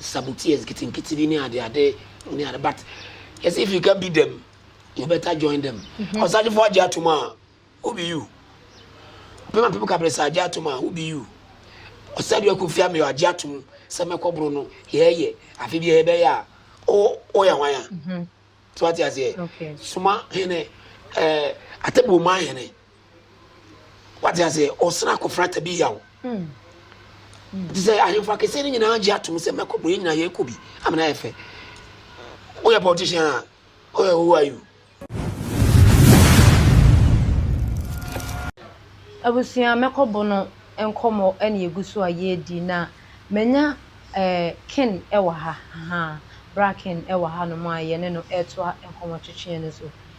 saboteurs nketenkete bi ne adeade ne ade but yɛsɛ if you can beat them you better join them mhm. ɔsagyefoɔ agye atom a who be you ɔpem apem kabresa agye atom a who be you ɔsɛdeɛ aku fia meyɛ agye atom sɛ mɛkɔboro no yɛɛyɛ afe bi yɛbɛyɛ a woyɛ hwan a so ate aseɛ soma hene atɛbɔ ma hene Wate aseɛ, ɔsena akɔfra tabi yaw. Mm. Te sɛ ahemfo akɛseɛ no nyinaa gye atom sɛ mɛkɔ bɔ yɛn nyinaa yɛkɔ bi amena yɛ fɛ. Woyɛ politician a, woyɛ who are you? Abusua mɛkɔ bɔ no nkɔmmɔ ɛne egu so a yɛredi na manya eh, Ken ɛwɔ ha, ahaa, bra Ken ɛwɔ ha nom a yɛne no ɛretoa nkɔmmɔ twetweɛ no so.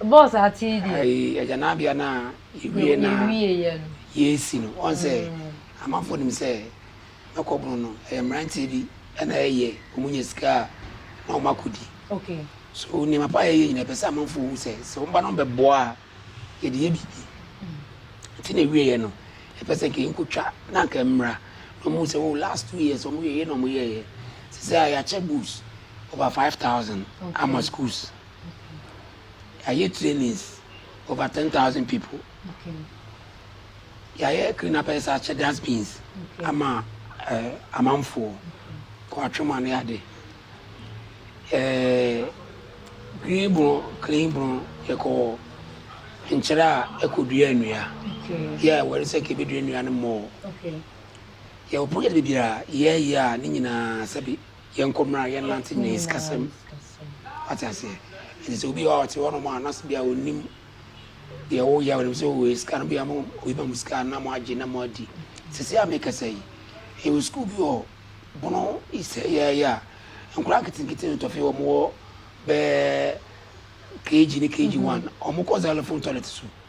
Ɛbɔɔ saa tee deɛ. Ayi agyanabea no a yɛwie no a yɛresi no, ɔhu sɛ amanfoɔ nim sɛ mɛkɔbono no, ɛyɛ mmeranteɛ bi na ɛyɛ, wɔnya sika a na wɔakɔdi. So nneɛma pa a yɛyɛ nyina ɛpɛ sɛ amanfoɔ hu sɛ sɛ wɔba no bɛboa a yɛde yɛ biribi. Nti na ɛwieɛ no ɛpɛ sɛ nka yɛnkɔtwa na nka mmra na wɔhu sɛ oh last two years wɔyɛyɛ na wɔyɛyɛ sɛ sɛ a yɛakyɛ books over 5000 ama schools. Yɛayɛ trainings over ten thousand people. Yɛayɛ clean up ɛsɛ akyɛ dustbins ama eh, amanfoɔ kɔ atwoma ne ade. Eh, green bron, clean bron, yɛkɔ nkyerɛ a ɛkɔdua nnua. Yɛ wɔre sɛ kɛbɛdua nnua no mmɔɔ. Yɛwɔ project bebree a yɛyɛ a ne nyinaa sɛbi Yɛnkɔ mmra yɛnnante nyinaa sikasɛm wate aseɛ nti sɛ obi hɔ ɔte hɔnom a na sɛ bia ɔnim deɛ woyɛ ɔnim sɛ wowɔ sika no bia mo obi ma mo sika na mo agye na mo adi sisi a mekasa yi yɛwɔ sukuu bi wɔ bono isɛ yɛyɛ a nkora nketenkete no tɔfe wɔn wɔ bɛɛ kg ne kg one wɔn kɔ xylophone toilet so.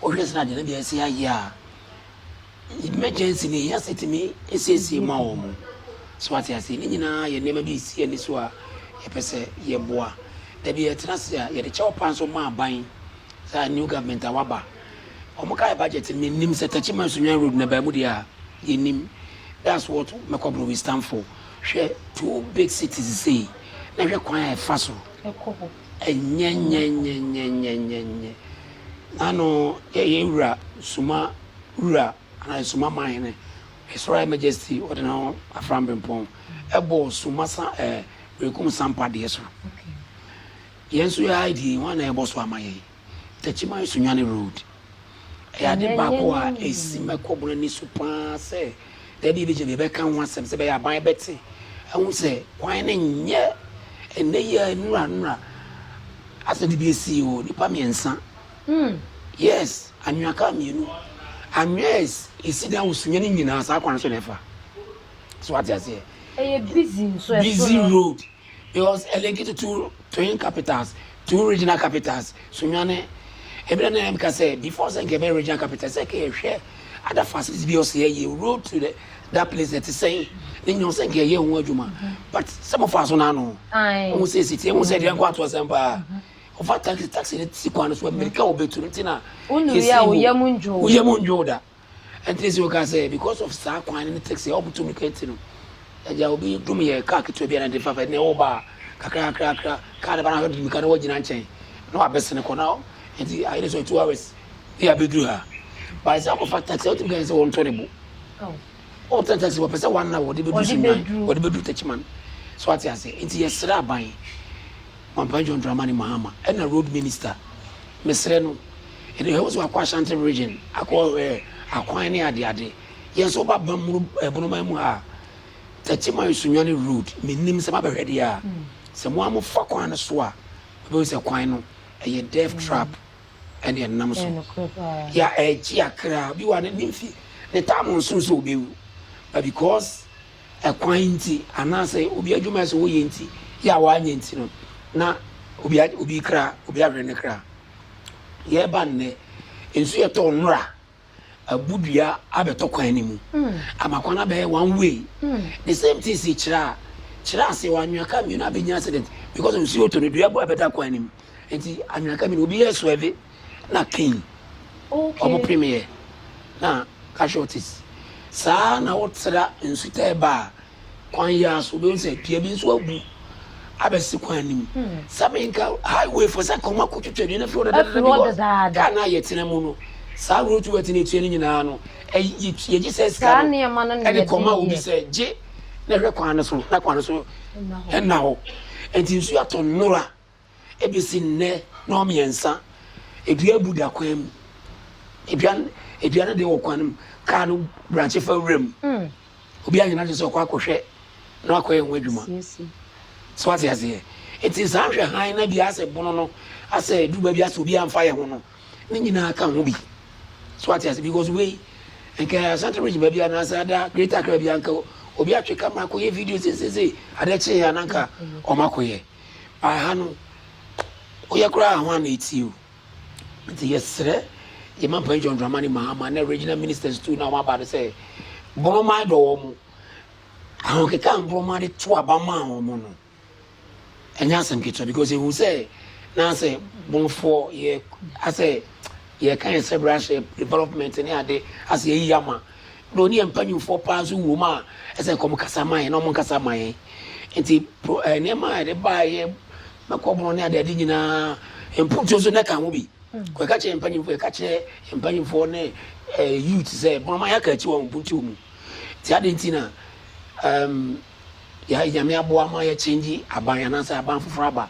Wohwɛ sɛ ade no de asi ayɛ a, emergency no ehia sɛ etumi siesie ma wɔn. So wate aseɛ? Ne nyinaa yɛ nneɛma bi a ɛsi ani so a yɛpɛ sɛ yɛboa. Da bi yɛtena ase a, yɛde kyɛw paa nso ma aban, saa new government a waba. Wɔkae budget no, mennim sɛ Techiman Sunyani Road no ɛbaa mu deɛ a, yɛnnim. That's what Mɛkɔboro we stand for. Hwɛ two big cities sei, na hwɛ kwan a ɛfa so. Ɛkɔ hɔ. Enyenyenyenyenyenyenyenye! Na no yɛ yɛn Wura, Nsuma Wura, anaa Nsuma Man Hene, His Royal Majesty Ɔdenam Afram Bempɔn, bɔ Suma sa ɛɛ Berekum Sampa deɛ so. Yɛn nso yɛn ID, hwan na ɛbɔ so ama yɛn? Techiman Sunyani Road. Ɛyɛ ade baako a esi mɛkɔ bɔn ani so pa ara sɛ da bi yɛbɛgyina yɛbɛka ho asɛm sɛ ɛbɛyɛ aban bɛte ahu sɛ kwan no nyɛ ɛnnɛ yi a nnura nnura asɛm no bi esi o, nnipa mmiɛnsa, yes, anwea kaa mmienu, anwea a esi dan wɔ Sunyani nyinaa saa kwan no so na ɛfa. So wate aseɛ? Ɛyɛ busy nso ɛso no. Busy road. It was a link to two twin capitals, two regional capitals. Sunyani, ebi na na ɛka sɛ before sɛ nka ɛbɛyɛ regional capital sɛ nka yɛhwɛ other facilities bi ɔsɛ yɛ yɛ road to the, that place ɛte sɛn ne nyɛ ɔsɛ nka yɛyɛ ho adwuma but sɛ mo fa so n'ano ɔmo sɛ esi tie ɔmo sɛ deɛ nkɔ ato asɛm paa ɔfa taxi taxi ne si kwan no so amirika ɔbɛtu no ti na yɛsi mu woyɛ mu ndwo da. Ɛnti na si wɔka sɛ because of saa kwan no ne taxi a ɔmo tumi kɛnti no, agya obi dum yɛ car ketewa bi a na ɛde fafa ɛnna ɛwɔ ba a, kakra kakra kakra car no ba na ahwɛ de mirika na wagyina nkyɛn na wabɛsene kɔ na ɛnti ayɛ dɛ sɛ ɔyɛ two hours bi a abɛduru ha. But sɛ akɔfa taxi a, wotumi ka kyerɛ sɛ wɔntɔ ne bo. Ɔɔtena taxi mu a, ɔpɛ sɛ one hour ɔde bɛduru Sunyani, ɔde bɛduru Techiman. So wate aseɛ? Ɛnti yɛsrɛ aban, Boampɛ John Dramani Mahama ɛnna Road Minister, mesrɛ no, Eno he wo so akɔ Ashanti region akɔ eh akwan ne ade ade. Yɛ nso woba Bamuru eh Bonoman mu ha a, Thirty mile Sunyani road me nim sɛ mabɛhwɛ deɛ a, sɛ mo a mo fa kwan no so a, mo bɛhu sɛ kwan no ɛyɛ death trap ɛne ɛnam so. Ya eh gye akra. Obi wɔ ha n'ani mfi ne time ɔnso sɛ ɔbɛwu but because ɛkwan nti anaa sɛ obi adwuma ɛsɛ ɔyɛ nti, yɛ a wanyɛ nti no na obi a obi kra obi ahwere ne kra. Yɛreba nnɛ, nsu yɛ tɔɔ nwura abu dua abɛtɔ kwan no mu ama kwan no abɛyɛ one way. The same thing si kyerɛ a kyerɛ ase wɔ anwea car mmienu abɛnya accident because nsu oto no dua bu abɛda kwan no mu nti anwea car mmienu obi yɛ swerve na keen okay. ɔmo pem yɛ na casualties saa na wotra nsu taa ba a kwan yi ara so, wobɛhu sɛ dua bi nso abu abɛsi kwan no mu. Sɛ menka highway fo sɛ kɔma kɔtwitwa dua no afiri hɔ dadaada because kaa no a yɛtena mu no, saa road to work no ɛtua no nyinaa no, yɛgye saa sika no ɛde kɔma obi sɛ gye na hwɛ kwan no so na kwan no so nna hɔ. Nti nsuo atɔ nnora Ebesi nnɛ nnɔnmiɛnsa, dua abu da kwan mu. Dua no dua no deɛ wɔ kwan no mu, kaa no brankye fa wuram. Obi anyɛ n'adwene sɛ ɔkɔ akɔhwɛ na wakɔyɛ ho adwuma. So wate aseɛ? Enti saa hwɛ hann na dua asɛ bono no asɛ duru baabi asɛ obi amfa yɛ ho no, ne nyinaa ka ho bi. So wate aseɛ? Because wei, nka Ashanti region baabi anaasɛ ada Greater Accra baabi a, nka obi atwe camera akɔyɛ video seisei, adeɛ kyeeɛ a na nka wɔakɔyɛ. By ha no woyɛ koraa a hwan na etie o? Nti yɛsrɛ yɛn Mampanyin John Dramani Mahama ne Regional Ministers too no a wɔaba no sɛ borɔma dɔ wɔn. Ahokeka a mborɔma de to aba maa wɔn no ɛnyɛ asɛm ketewa because ehu sɛ na sɛ borɔfoɔ yɛ asɛ yɛka yɛn sɛ bra hyɛ development ne ade asɛ yɛyi ama na ɔne yɛn mpanyimfoɔ paa nso wom a, ɛsɛ nka wɔkasa ma yɛn na wɔnkasa mma yɛn. Nti pro ɛɛ nneɛma a yɛde baeɛ, mɛkɔbɔn ne adeade nyinaa, mputuo nso na ɛka ho bi. Kɔ ɛka kyerɛ mpanyimfoɔ, yɛka kyerɛ mpanyimfoɔ ne ɛɛ youth sɛ mama yɛaka akyi wɔ mputuo mu. Nti adɛn nti na ɛɛm yɛ Nyame aboa ma yɛ change aban anaasɛ aban foforɔ aba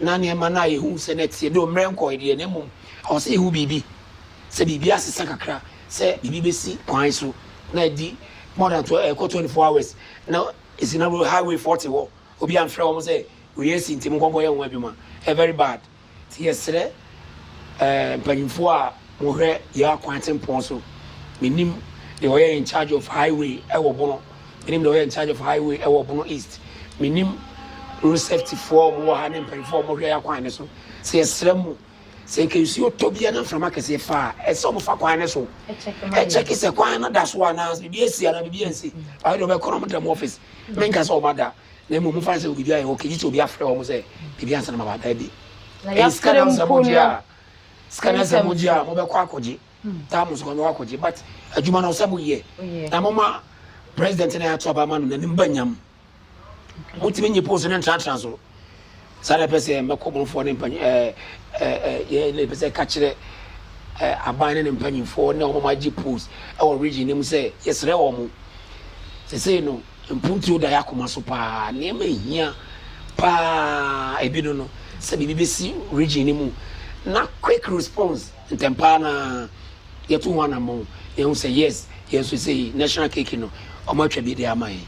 na nneɛma no a yɛhu sɛ na ɛteɛ, though mmerɛ nkɔeɛ deɛ na mmom ɛwɔ sɛ yɛhu biribi sɛ biribi asesa kakra sɛ biribi bɛsi kwan so na ɛdi more than twelve ɛkɔ twenty four hours na ɛsi na road highway foɔ te hɔ obi amfrɛ wɔn sɛ wei asi nti monkɔ nkɔyɛ ho adwuma ɛ very bad nti yɛsrɛ ɛɛ mpanyinfoɔ a mohwɛ yɛ akwan atempɔn so menim deɛ ɔyɛ in charge of highway ɛwɔ bono menim deɛ ɔyɛ in charge of highway ɛwɔ bono east menim road safety foɔ wɔn wɔ ha ne mpanyinfoɔ a wɔhwɛ yɛ akwan no so sɛ yɛsrɛ mu. Sɛ anka nsuo tɔ bi anaa mframa kɛseɛ fa a, ɛsɛ sɛ wɔfa kwan no so kyɛke sɛ kwan no da so anaa, sɛ biribi asi anaa biribi ansi. Ayɛ deɛ wɔbɛkɔ na wɔda mu ɔfis. Menka sɛ wɔada, na mmom momfa no sɛ biribi ayɛ okay, gye sɛ obi afrɛ wɔn sɛ biribi ansa na moaba. Dabi. Ɛyɛ sika na sɛ mogye a, sika na sɛ mogye a, mobɛkɔ akɔgye. Taa mo nso kwan bɛkɔ akɔgye, but adwuma no sɛ moyɛ. Na momma President no a yɛato aba ama no n'anim ba nyam. Motumi nyi post no ntenatena so. Saa na ɛpɛ sɛ mmɛkɔ bɔnfoɔ ne mpanyin ɛɛ ɛɛ yɛ na ɛpɛ sɛ ɛka kyerɛ ɛɛ aban ne ne mpanyinfoɔ ne wɔn agye post ɛwɔ region no mu sɛ yɛsrɛ wɔn. Sesei no mpuntuo da yɛ akoma so paa. Nneɛma ehia paa ebi no no sɛ biribi bɛsi region no mu na quick response ntɛmpaa no ara. yɛto ho anamɔn na yɛhu sɛ yes yɛn nso sɛ yi national cake no wɔn atwa bi de ama yɛn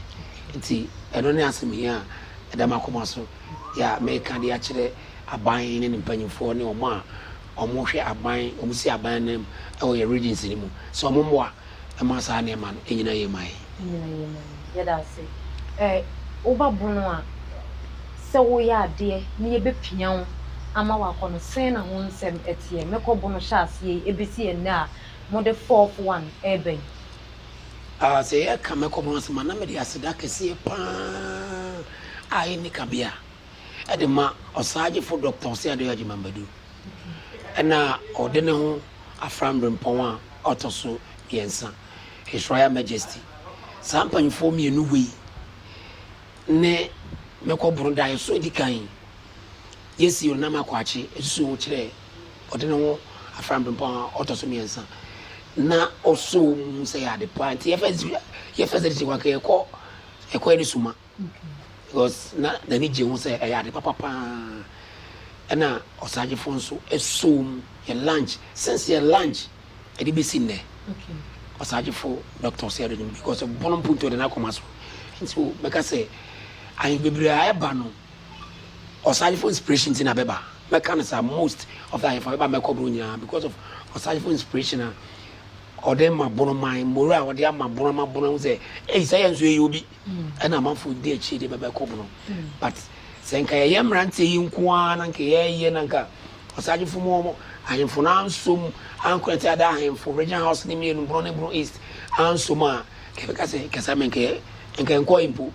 nti ɛno ne asɛm hia a ɛda m'akoma so yɛ a mɛka de akyerɛ aban ne ne mpanyinfoɔ ne wɔn a wɔn hwɛ aban wɔn si aban nam ɛwɔ yɛ regions no mu sɛ wɔn mmoa ɛma saa nneɛma no ɛnyina yie ma yɛn. nyina yɛ nyame. Yɛda ase. Ɛ woba bono a sɛ woyɛ adeɛ ne yɛbɛpia wo ama wakɔ no sɛn na ho nsɛm teɛ? Mɛkɔ bono hyɛ aseɛ yi ɛbɛsi ɛnnɛ a mode fourth one reba yi. Ah sɛ yɛka mɛkɔ bono asɛm a na mede aseda kɛseɛ paa a ɛnni kabea de ma Ɔsaagyefo Dɔkta Osei Adeoye Agyemang Badu na ɔde ne ho afra mberempɔn a ɔtɔ so mmiɛnsa. His Royal Majesty, saa mpanyimfoɔ mmienu wei ne mɛkɔ Borondaeɛ so adi kan. Yɛsi Onam Akoakye asuo ho kyerɛ ɔde ne ho afra Mprempɔn a ɔtɔ so mmiɛnsa na ɔsɔ mu sɛ ɛyɛ ade pa nti yɛ first yɛ first edition wa yɛkɔ yɛkɔ yɛ ne suma because na n'ani gye ho sɛ ɛyɛ ade papa paa ɛna ɔsagyefo nso ɛsɔ mu yɛ lunch since yɛ lunch Ɛde besi nnɛ, Ɔsagyefo Dɔkta Ɔsɛe Ado nim because ɔbɔn mpontu ɔde n'akoma so. Nti mɛka sɛ ahe bebree a ɛba no Ɔsagyefo inspiration nti na bɛba. Mɛka no saa most of the ahemfo a bɛba mɛkɔ boro nyinaa because of Ɔsagyefo inspiration a ɔde ma bonoman, morale a ɔde ama bono ama bono ahu sɛ ei sɛ yɛn nso yɛyɛ obi. ɛna amanfoɔ redi akyire deɛ bɛbɛ kɔ bono but sɛ nka yɛyɛ mmeranteɛ yi nko ara na nka yɛyɛ na nka ɔsagyefo mu wɔn ahemfo no ansom ankɔ ɛte ada ahemfo region house ne mmienu bono ne bono east ansom a kɛbɛka sɛ kɛsa me nkɛyɛ nka nkɔ mpo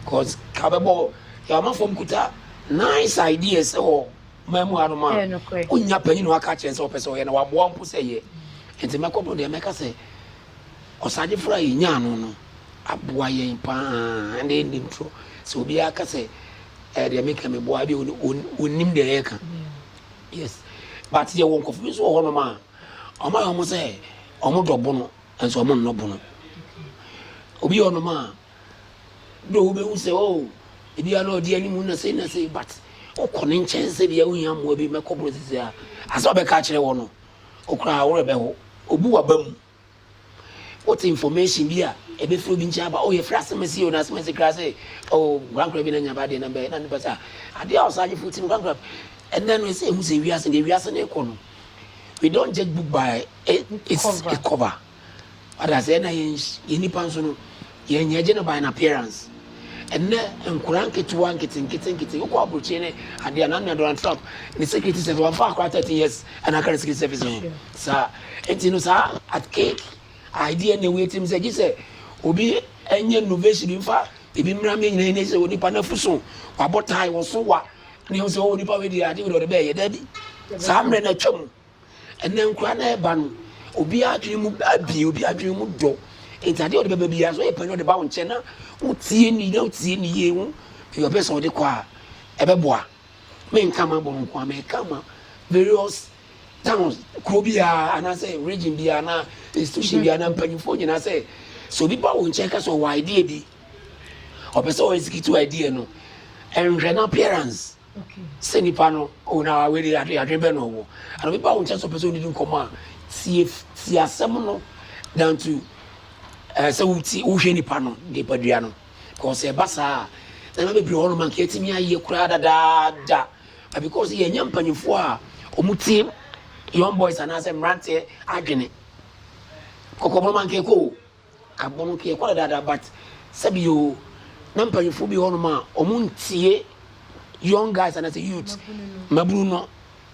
cause ka bɛbɔ yɛ amanfoɔ mu kuta nice ideas ɛwɔ man mu hanom a wonya panyin na waka kyerɛ sɛ ɔpɛ sɛ ɔyɛ na waboa mpo sɛ yɛ nti mɛkɔ bono deɛ mɛka sɛ Ɔsadefo a yenyaa no no aboa yɛn paa. Ɛnde ɛnde ntoro sɛ obiara ka sɛ ɛɛ deɛ meka meboa deɛ ɔnnim deɛ yɛreka. Yes. But yɛwɔ nkurɔfo bi nso wɔ hɔnom a wɔayɛ wɔn sɛ wɔdɔ bono nso wɔnnɔ bono. Obi wɔ hɔnom a do wobɛhu sɛ o oh, ebia na ɔde anim na sei na sei but wokɔ ne nkyɛn sɛ bia wohia mmoa bi mɛkɔ borɔ sisi a asɛ ɔbɛka akyerɛ wɔ no wo koraa a wo werɛ bɛho. Obu w'aba mu. Wote information bi a ɛbɛfiri obi nkyɛn aba, oh yɛfiri asemese o, na asemese koraa sɛ oh nkorankora bi na anya ba deɛ na bɛyɛ na nipa sɛ ah adeɛ a ɔsagyefo ti no nkorankora ɛnɛ no ɛsɛ ɛhu sɛ wiase deɛ wiase no rekɔ no we don't judge book by its cover. Ɔde aseɛ na yɛn yɛn nipa nso no yɛn yɛn gye no by an appearance. Ɛnɛ nkora nketewa nketenkete nkete wokɔ aburokyire ne adeɛ a nanua Donald Trump ne security service wɔn fa akora thirteen years ɛna aka ne security service ho saa nti no saa at cake idea na ewie tirim sɛ gye sɛ obi ɛnyɛ innovation bi nfa ebi mmira mi nyina yɛn sɛ onipa n'afu so wabɔ tae wɔso wa ne ho sɛ onipa wei deɛ ade wei deɛ ɔde bɛyɛ daabi saa mmerɛ na atwa mu. Ɛnɛ nkwadaa no a ɛreba no, obiara adwene mu abue, obiara adwene mu dɔ. Nti adeɛ a ɔde bɛba biara, sɛ ɔyɛ panyin ɔde ba wo nkyɛn na wotie ni na wotie ni yie ho deɛ ɔpɛ sɛ ɔde kɔ a, ɛbɛboa. Menka m'abɔ nko a, meka ma various towns, kuro biara anaasɛ region biara anaa institution biara na mpanyinfoɔ nyinaa sɛ, sɛ obi ba wo nkyɛn ka sɛ ɔwɔ idea bi, ɔpɛ sɛ ɔexecute idea no, nhwɛ n'appearance. sɛ nipa no oh na wei de adwene adwene bɛn na ɔwɔ ana obi ba wo nkyɛn sɛ ɔpɛ sɛ ɔdidi nkɔmmɔ a tie tie asɛm no dan to ɛɛ sɛ wotie wohwɛ nipa no nipadua no because ɛba saa a nneɛma bebree hɔ nom anka yɛtumi ayɛ koraa dadaada but because yɛnyɛ mpanyinfoɔ a wɔn tie young boys anaasɛ mmeranteɛ adwene kɔkɔbɔ no anka ɛkɔ o Agbo no yɛkɔ no daadaa but sɛbi o na mpanyinfoɔ bi wɔ hɔnom a wɔn ntie young guys anaasɛ youth mmabunu no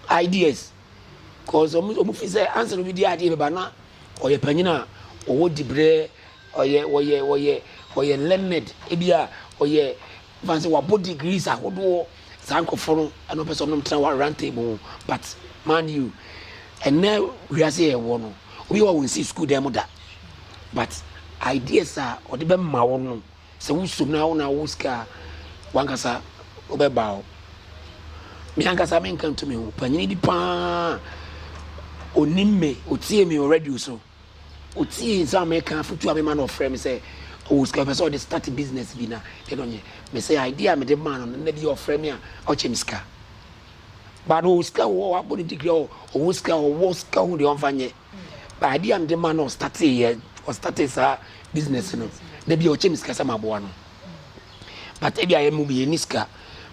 ideas cause wɔn wɔn fi sɛ ansa na obi di adeɛ bɛba na ɔyɛ panyin a ɔwɔ dibrɛ ɔyɛ ɔyɛ ɔyɛ ɔyɛ learned ebi a ɔyɛ Ɛfa sɛ wabɔ degrees ahodoɔ saa nkurɔfoɔ no ɛna ɔpɛ sɛ ɔnom tena wɔ round table ho but man you ɛnɛ wiase yɛ wɔ no obi wɔ wɔn si sukuu dan mu da but ideas a ɔde bɛma wo no sɛ wosom na wo na wo sika wankasa wobɛba hɔ me ankasa menka ntumi ho panyini bi paa onim me otie me wɔ radio so Otsiee dza mereka afotu a mema no ɔfrɛɛ me sɛ ɔwɔ sika ɔpɛ sɛ ɔde start business bi na deɛ na ɔnyɛ mese idea a mede maa no no nna bi yɛ ɔfrɛ me a ɔkyɛ me sika ba no ɔwɔ sika wɔ hɔ wabɔ ne degree ɔ ɔwɔ sika ɔwɔ sika hu deɛ ɔmfa nyɛ ba idea a mede maa no ɔstartee yɛ ɔstartee saa business no nna bi ɔkyɛ me sika sɛ maboa no. but ebia yɛn mu bi yɛn ni sika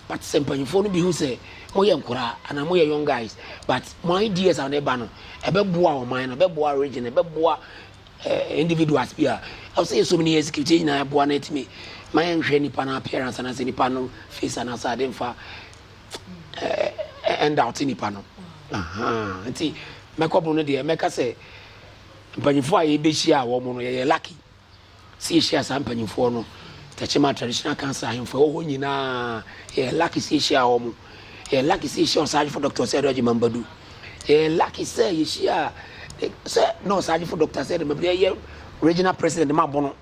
but sɛ mpanyinfoɔ no bi hu sɛ mo yɛ nkoraa anaa mo yɛ young guys but mo ideas a na ɛba no ɛbɛboa ɔman no ɛbɛboa region ɛbɛboa eh, individuals bi a ɛwɔ sɛ yɛsɔ mu ne yɛ execute yɛn nyinaa ɛboa na ɛtumi ma yɛnhwɛ nipa no appearance anaasɛ nipa no face anaasɛ ade nfa ɛnda ɔte nipa no nti mɛkɔbo no deɛ mɛka sɛ mpanyinfoɔ a yɛbɛhyia a wɔn no yɛyɛ lucky Sɛ yehyiaa saa mpanyimfoɔ no, Tachema Traditional Council ahemfo a ɛwɔ hɔ nyinaa, yɛyɛ lucky sɛ yehyiaa wɔn. Yɛyɛ lucky sɛ yehyiaa Ɔsagyefo Dɔkta Ɔsɛɛdɛ Ɔgyema Mbadu. Yɛyɛ lucky sɛ yehyiaa eh, sɛ na Ɔsagyefo Dɔkta Ɔsɛɛdɛ Mbadu yɛ yɛ regional president ma Bono.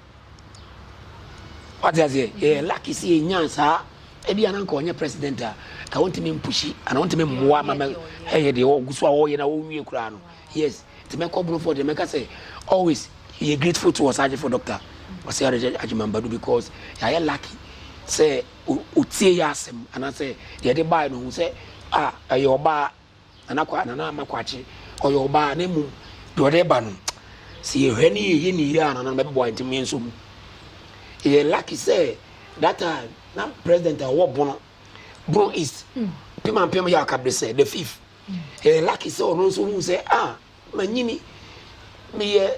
Wate aseɛ? Yɛyɛ lucky sɛ yɛnyaa saa. Ebi a na anka ɔnyɛ president a, ka wɔntumi mpushi anaa wɔntumi mmoa ma mɛ ɛyɛ deɛ ɔgu so a ɔreyɛ na ɔnwie koraa no. Yes, Nti mɛkɔ Broford deɛ mɛka sɛ always yɛ grateful to Ɔsaagyefo Doctor Ɔsɛe Aregye Agyemang Badu because yɛayɛ lucky sɛ ɔtie yɛ asɛm anaasɛ deɛ yɛde baeɛ no ɔhu sɛ ah ɛyɛ ɔbaa Nana Kwa Nana Ama Kwakye ɔyɛ ɔbaa na mmom deɛ ɔde ba no sɛ yɛhwɛ ne yɛyɛ ne yie a Nana no bɛboa yɛn nti mo yɛn nsɔ mu yɛyɛ lucky sɛ that time na president a ɔwɔ Bono Bono East Pimampem Yaw Kabresɛ the fifth Ɛyɛ lucky sɛ ɔno nso huu sɛ, ah, manyini, meyɛ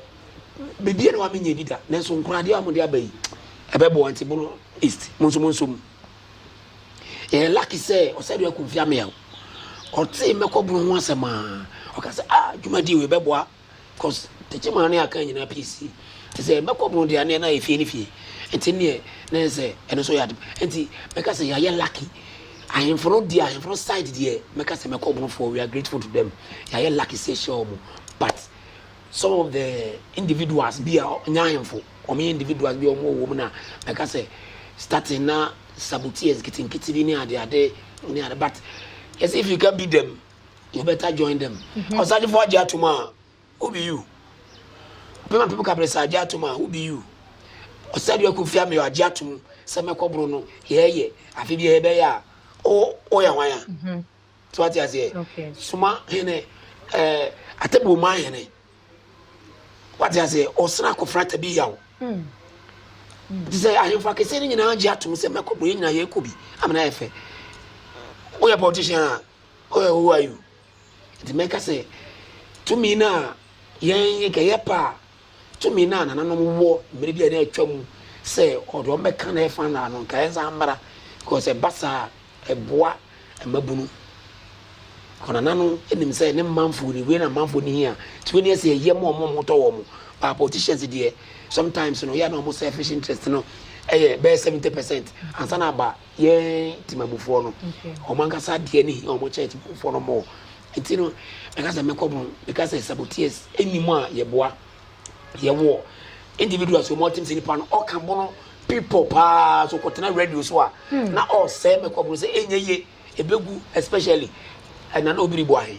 bebie no a menyɛ bi da, nanso nkoradeɛ a mode aba yi, ɛbɛboa nti bono east, mo nso mo nsom. Ɛyɛ lucky sɛ ɔsɛdeɛ akumfia meaw, ɔtee mɛkɔ bono ho asɛm a, ɔka sɛ, ah, dwumadie wei bɛboa Cos tete maa ne akan nyinaa pii sii. Te sɛ bɛkɔ bro deɛ aneɛ na ayɛ fie ne fie. Nti neɛ na yɛ sɛ ɛno so yɛ ade. Nti mɛka sɛ yɛayɛ lucky. Ahemfo no deɛ ahemfo no side deɛ mɛka sɛ mɛkɔ bro foɔ we are grateful to them. Yɛayɛ lucky sɛ yɛhyia wɔn. But some of the individuals bi a nyɛ ahemfo wɔn yɛ individuals bi a wɔn wɔ wɔn mu na mɛka sɛ starting na saboteers nketenkete bi ne adeade ne ade but yɛsɛ if you can beat them. you better join them mm-hmm. ɔsajefo agye atom a who be you pema pem kabresa agye atom a who be you ɔsɛde aku fia me agye atom sɛ mɛkɔboro no yɛɛyɛ afe bi yɛbɛyɛ a woyɛ hwan a mm-hmm. so ate aseɛ soma hene eh, atabuo ma hene wate aseɛ ɔsena akɔfra tabi yaw mm. te sɛ ahemfo akɛseɛ no nyinaa gye atom sɛ mɛkɔboro yɛ nyinaa yɛkɔ bi amena yɛ fɛ woyɛ politician a Where who are you? Nti mɛka sɛ tumi no a yɛn nka yɛpɛ a tumi no a nananom wɔ mmerɛ bi a na atwa mu sɛ ɔde wɔn bɛka na ɛfa no ano nka yɛnsa mmara because ɛba saa ɛboa mmabunu kɔnana no nim sɛ ne mmanfoɔ ni wei na mmanfoɔ ni hia nti wei ne ɛsɛ ɛyɛ mu ɔmo ɔmo tɔ wɔn but politicians deɛ sometimes no yɛ na ɔmo selfish interest no ɛyɛ bɛyɛ seventy percent ansa na aba yɛn temamufoɔ no wɔn ankasa adeɛ ne hia wɔn church mufoɔ no mɔɔ nti no ɛka sɛ mɛkɔ mu ɛka sɛ saboteers ɛni mu a yɛboa yɛwɔ individuals wɔn ɔtem sɛ nipa no ɔka bono people paa so kɔtena radio so a hmm. na ɔsɛ mɛkɔ mu sɛ ɛnyɛ ye ɛbɛgu especially ɛna na obiri bɔ ahe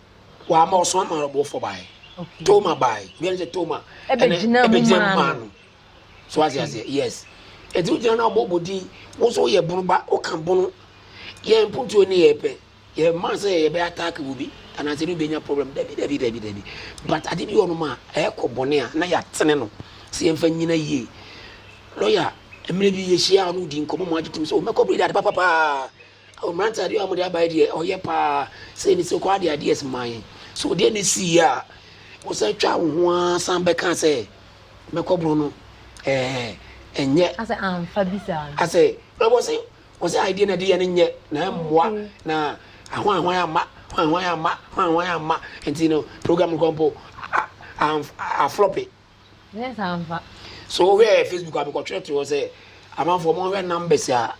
Wama ɔsoma maa no bɔfoɔ baeɛ. Okay. Toma baeɛ. Obiara sɛ Toma. Ɛbɛgyina mu maa no. So ase aseɛ yes. Ɛti wogyina no abɔbɔ din wo so yɛ bono ba woka bono yɛ mpuntuo ne yɛ pɛ yɛ maa sɛ yɛbɛ attack wo bi anaasɛ ne wobɛnya problem dabi dabi dabi dabi but ade bi ɔnom a ɛkɔ bɔne a na yɛatene no sɛ yɛmfa nyina yie lɔya mmerɛ bi yɛhyia a ɔno di nkɔmmɔ mu agye tom sɛ ɔmɛkɔ bere de ade papapaa Awo mmerante adeɛ a wɔde abae deɛ ɔyɛ paa sɛ ne sɛ kɔ adeɛ adeɛ siman so deɛ ne si yɛ a wɔsan twa wo ho ara san bɛka sɛ mɛkɔ boro no ɛɛ ɛnyɛ asɛ anfa bi saa asɛ na wɔsi wɔsi adeɛ na deɛ ne nyɛ na ɛmmoa na ahwan ahwan ama ahwan ahwan ama ahwan ahwan ama nti no program kɔmpo aflɔpe. Nyɛ saa mfa. So wohwɛ Facebook a mekɔtwerɛtwerɛ hɔ sɛ amanfoɔ monhwɛ numbers a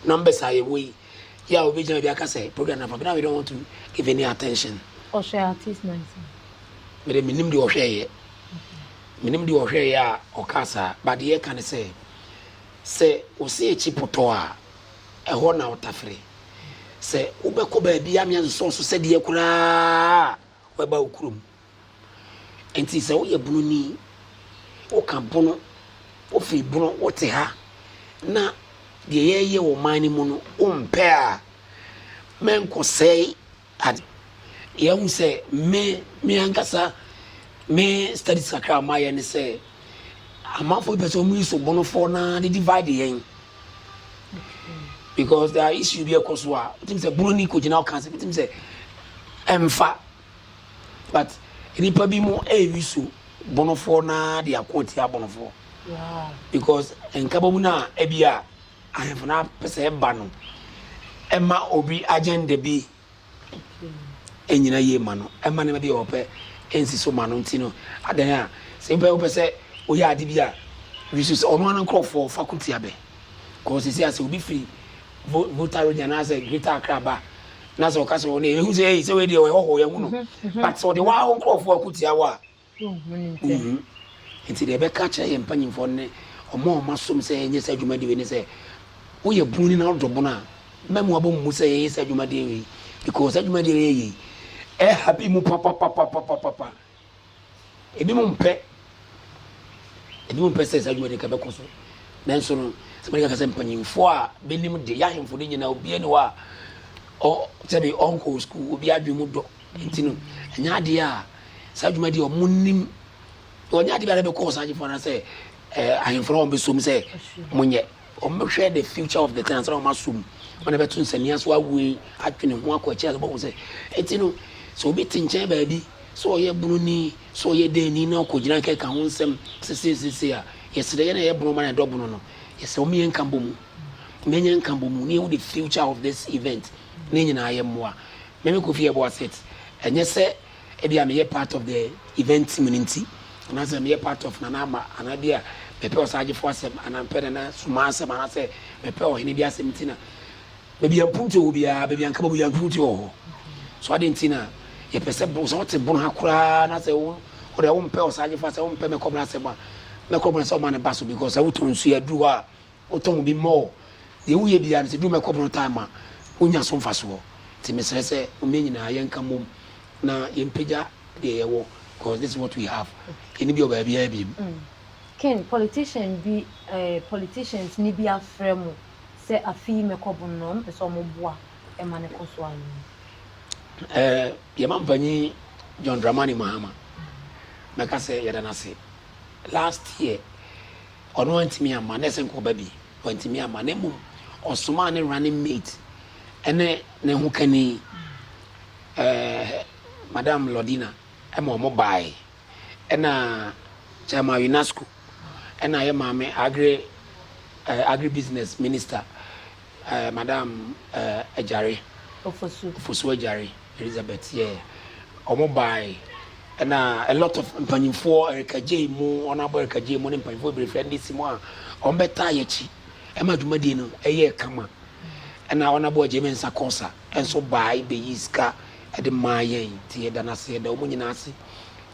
numbers a yɛwɔ yi yɛ a wobɛgyina bi aka sɛ program nafa bena we don't want to give any attention. Ɔhwɛ artist na nsa. Mede menim deɛ ɔhwɛeɛ menim deɛ ɔhwɛeɛ a ɔka saa but deɛ ɛka ne sɛ sɛ wo se akyi potɔ a ɛhɔ na wotafere sɛ wobɛkɔ baabi a meansosɔ so sɛdeɛ koraa wɛba wo kurom Enti sɛ woyɛ bununi, woka bunu, wofi bunu, wote ha, na deɛ yɛreyɛ wɔ ɔman no mu no wompɛ a, mɛnkɔsɛe ade. Yɛahu sɛ me, me ankasa, me studies kakra a mayɛ ne sɛ, amanfoɔ pɛ sɛ wɔyi so bunufoɔ na de divide yɛn. Because there are issues bi ɛkɔ so a, wotumi sɛ bununi kɔgyina wo ka sɛ, wotumi sɛ ɛmfa. But nnipa bi mo ɛyɛ use bonofoɔ no ara de ako atia bonofoɔ. Because nkabɔmu no a ebi a ahemfo no apɛ sɛ ɛba no ɛma obi agenda bi ɛnyina yie ma no, ɛma nneɛma bi a ɔpɛ ɛnsi so ma no nti no adan a sɛ nipa wopɛ sɛ woyɛ ade bi a wisu sɛ ɔno ara nkurɔfoɔ fa ko tia bɛ. Because sisi a sɛ obi firi Vo Volta Road anaasɛ Greater Accra ba na sɛ ɔka sɛ wɔn ehu sɛ ei sɛ wei deɛ ɔyɛ hɔhoɔ yɛhu no but sɛ ɔde wɔn nkurɔfoɔ ako tia wo a wonhu nti deɛ ɛbɛka akyerɛ yɛn mpanyimfoɔ no ne ɔmo a ɔmo asom sɛ yɛnyɛ saa adwumadie wei ne sɛ woyɛ buni na wodɔ bono a mma mu abɔ mu sɛ yɛyɛ saa adwumadie wei because saa adwumadie wei yɛ yie ɛhappy mu papapapapapapa Ebinom mpɛ. Ebinom mpɛ sɛ saa adwuma no nka ɛbɛkɔ so. Nanso no, sɛ mɛka ka sɛ mpanyimfoɔ a bɛnim de, yɛahemfo no nyinaa, obiara ni hɔ a ɔ sɛbi ɔnkɔɔ sukuu, obiara adwene mu dɔ. Nti no, ɛnyɛ adeɛ a saa adwuma deɛ wɔnim, wɔnyɛ adeɛ biara bɛkɔ ɔsagyefo anaasɛ eh, ahemfo no a wɔbɛsom sɛ monyɛ. Wɔbɛhwɛ the future of the thing ansa na wɔasɔ mu. Wɔn na ɛbɛto nsania so awoe, atwe ne ho akɔ akyiri ase bɛhu sɛ. Enti no, sɛ obi te nkyɛn baabi, sɛ ɔyɛ bononi, sɛ ɔyɛ dɛnni na ɔkɔgyina rekeka ho nsɛm seseesesei a, yɛsrɛ yɛn a yɛyɛ bono ma na yɛdɔ bono no, yɛsrɛ wɔn yɛn nkabɔmu. Yɛnyɛ nkabɔmu na yɛhu the future of this event na yɛn nyinaa yɛmmoa. Meme Kofi Ebuaset, ɛnyɛ sɛ. Ebia meyɛ part of the event team no nti, anaasɛ meyɛ part of Nana Ama, anaa ebia mepɛ Ɔsaagyefo asɛm, anaa mepɛ Nana Sumah asɛm, anaasɛ mepɛ Ɔhene bi asɛm nti na baabi a mpuntuo wɔ biara, baabi a nka bɛbɔ biara mpuntuo wɔ hɔ. So adɛn nti na yɛpɛ sɛ bon, sɛ wote bon ha koraa na sɛ wo wo deɛ wompɛ Ɔsaagyefo asɛm, wompɛ Mɛkɔbena asɛm a, Mɛkɔbena sɛ ɔma ne ba so because sɛ wotɔ nsuo aduru hɔ a, Wotɔn wo bi more. Deɛ woyɛ biara no sɛ duru mɛkɔ borɔ time a wonya so mfasoɔ. Nti mesrɛ sɛ moma yɛn nyinaa yɛnka mmom na yɛmpagya deɛ yɛwɔ cause this is what we have. Yɛnni bi wɔ baabiara biom. Ken politician bi eh politicians ni bi afrɛ mo sɛ afe yi mɛkɔ bon no ɔmo pɛ sɛ ɔmo boa ma no kɔ so anaa. Eh yɛ mampanyin John Dramani Mahama mɛka sɛ yɛda no ase last year. Ɔno antumi amma, na ɛsɛ nka ɔba bi. Wantumi amma, na mmom ɔsomaa ne running mate ne ne hokani, eh, Madam Lordina, ma wɔbae. Ɛna Chairman Winasco, ɛna yɛn maame Agri, eh, Agribusiness Minister, Eh, Madam eh, Agyare. Ofosu. Ofosu Agyare, Elizabeth, yeah. Wɔn bae, ɛna a lot of mpanyinfoɔ, Erika Jay mu, wɔn abɔ Erika Jay mu ne mpanyinfoɔ bebree firi NDC mu a wɔn bɛtaa yɛ akyi ɛma dwumadie no ɛyɛɛ kama. Ɛna wɔn abɔ Agyame Nsa Kɔsa nso bae bɛyii sika ɛde maa yɛn nti yɛda no ase, yɛda wɔn nyinaa ase.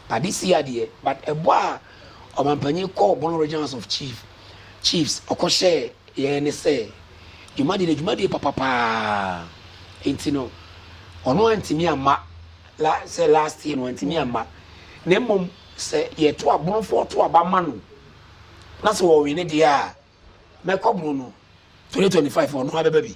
But this year deɛ, but ɛbɔ a ɔmampanyin kɔɔ Bono Region House of Chief, Chiefs, ɔkɔhyɛɛ Yɛɛ ne sɛ, dwumadie no dwumadie papa paa nti no ɔno antumi amma la sɛ last year no wantumi amma na mmom sɛ yɛto abonofoɔ to aba ma no na sɛ ɔwene deɛ a mɛkɔbono no 2025 ɔno ara bɛba bi.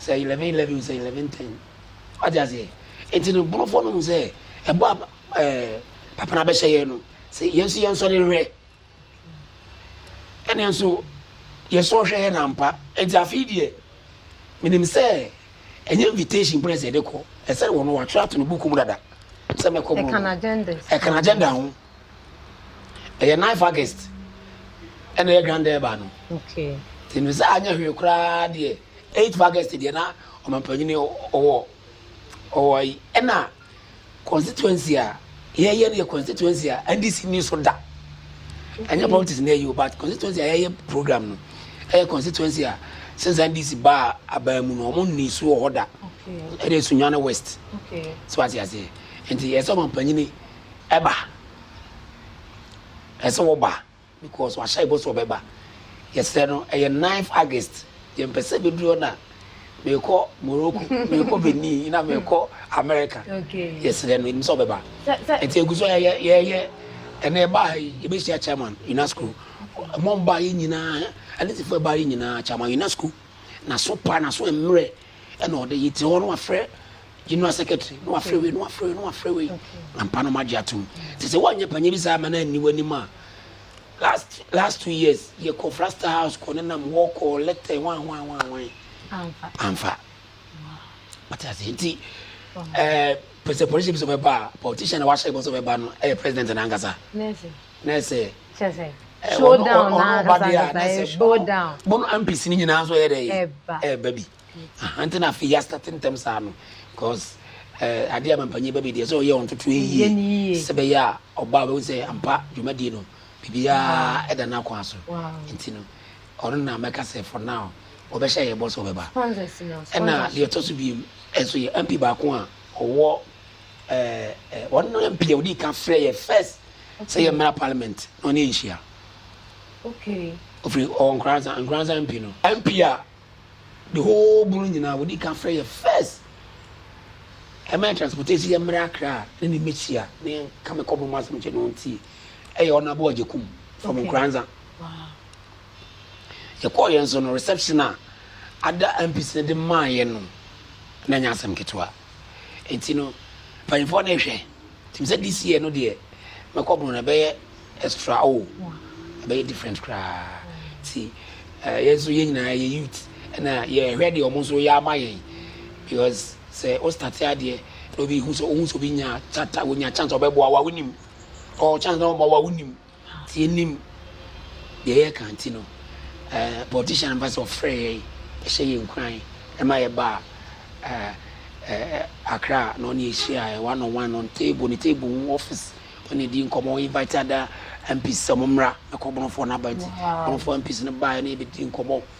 Sɛ eleven eleven o, sɛ eleven ten. Wate aseɛ? Nti no, Borɔfoɔ no hu sɛ, ɛbɔ a ɛɛ Papa no abɛhyɛ yɛn no, sɛ yɛn nso yɛnsɔre nhwɛ. Ɛnneɛ nso, yɛsɔre hwɛ yɛn ampa. Nti afei deɛ, menim sɛ, ɛnyɛ invitation pɛ na ɛsɛ yɛde kɔ. Ɛsɛ wɔn no, wɔatwerɛ ato ne buku mu dada sɛ mɛkɔ Borɔno. Ɛka n'agenda ho. ɛyɛ ninth august ɛna yɛ dwan dɛɛba no nti no sɛ anyɛ hwee koraa deɛ eighth august deɛ na ɔmampanyini ɔwɔ ɔwɔ yi ɛna constituency a yɛyɛ no yɛ constituency a ndc ni so da ɛnyɛ politics na ɛyɛ o but constituency a yɛyɛ program no ɛyɛ constituency a since ndc baa abaa mu no wɔn ni so wɔ hɔ da ɛna esunyane west so ase aseɛ nti yɛ sɛ ɔmampanyini. Ɛba. Ɛsɛ sɛ wɔba because wahyɛ bɔ sɛ ɔbɛba. Yɛsrɛ no, ɛyɛ ninth August. Yɛmpɛ sɛ ɛbɛduru hɔ na merekɔ Morocco, merekɔ Benin, na merekɔ America. Yɛsrɛ no, yɛnim sɛ ɔbɛba. Nti ɛgu so yɛyɛ yɛyɛ ɛnna ɛba ha yi yɛbɛhyia chairman UNESCO. Mo mba yɛ nyinaa anisifoɔ ɛba yɛ nyinaa chairman UNESCO. N'aso pa, n'aso mmerɛ ɛna ɔde yɛte hɔ no wafrɛ General secretary na wafrɛ wei na wafrɛ wei na wafrɛ wei ampa no magye atom sɛ sɛ woanyɛ panyin bi saa ama no anni w'anim a last last two years yɛkɔ frasta house kɔ ne nam hɔ kɔ lɛtɛ wan wan wan wan amfa amfa wate ase nti ɛɛ pɛ sɛ politician bi sɛ ɔbɛba a politician na wahyɛ bɔ sɛ ɔbɛba no ɛyɛ president na ankasa na ɛsɛ showdown na ankasa ankasa ɛyɛ showdown bono ampisi ne nyinaa nso ɛyɛ dɛ ɛba bi Aha nti na afei yɛastate ntɛm saa no cause eh, adeɛ a mampanyin ba bi deɛ sɛ ɔyɛ wɔn ntotoɛ yie sɛ bɛyɛ a ɔba a ɔbɛhu sɛ ampa dwumadie no biribiara da n'akwan so nti no ɔno na mɛka sɛ for now wɔbɛhyɛ yɛ bɔ sɛ ɔbɛba ɛna deɛ ɛtɔ so biem ɛso yɛ mp baako a ɔwɔ eh, eh, wɔn no mp a ɔdi ka frɛ yɛ first sɛ yɛ mmara parliament na ɔne yɛ nhyia ofiri ɔwɔ nkoransa nkoransa mp no mp a the whole borough nyinaa wɔdi kan frɛ yɛ first ɛma yɛ transportation yɛ mmerɛ akra a ne ne mɛhyia ne ka me kɔbɔ mu asɛm kyɛ ne ɔntie ɛyɛ ɔno abɔ ɔgye kum from nkranza yɛkɔɔ yɛn so no reception a ada mpis no de maa yɛ no na ɛnyɛ asɛm ketewa Enti no mpanyimfoɔ no rehwɛ nti sɛ this year no deɛ mɛkɔ bono no ɛbɛyɛ extra o ɛbɛyɛ different koraa nti eh, yɛn nso yɛn nyinaa yɛ youth ɛna yɛhwɛ deɛ wɔn nso yɛ ama yɛn because sɛ o start adeɛ na obi hu sɛ ohun sɛ obi nya chata wonya chance ɔbɛboa wa wonim ɔwɔ chance na ɔma wa wonim. Nti yɛnnim deɛ yɛreka nti no eh, politician mfa sɛ ɔfrɛ yɛn bɛhyɛ yɛn nkuran ɛma yɛbaa eh, eh, Accra na ɔne yɛhyia eh, one on one on table ne table ho office ɔne di nkɔmmɔ ɔ invite ada MPs sɛ ɔmo mmra na kɔ Borɔfoɔ no aba nti Borɔfoɔ MPs no baeɛ na yɛbɛdi nkɔmmɔ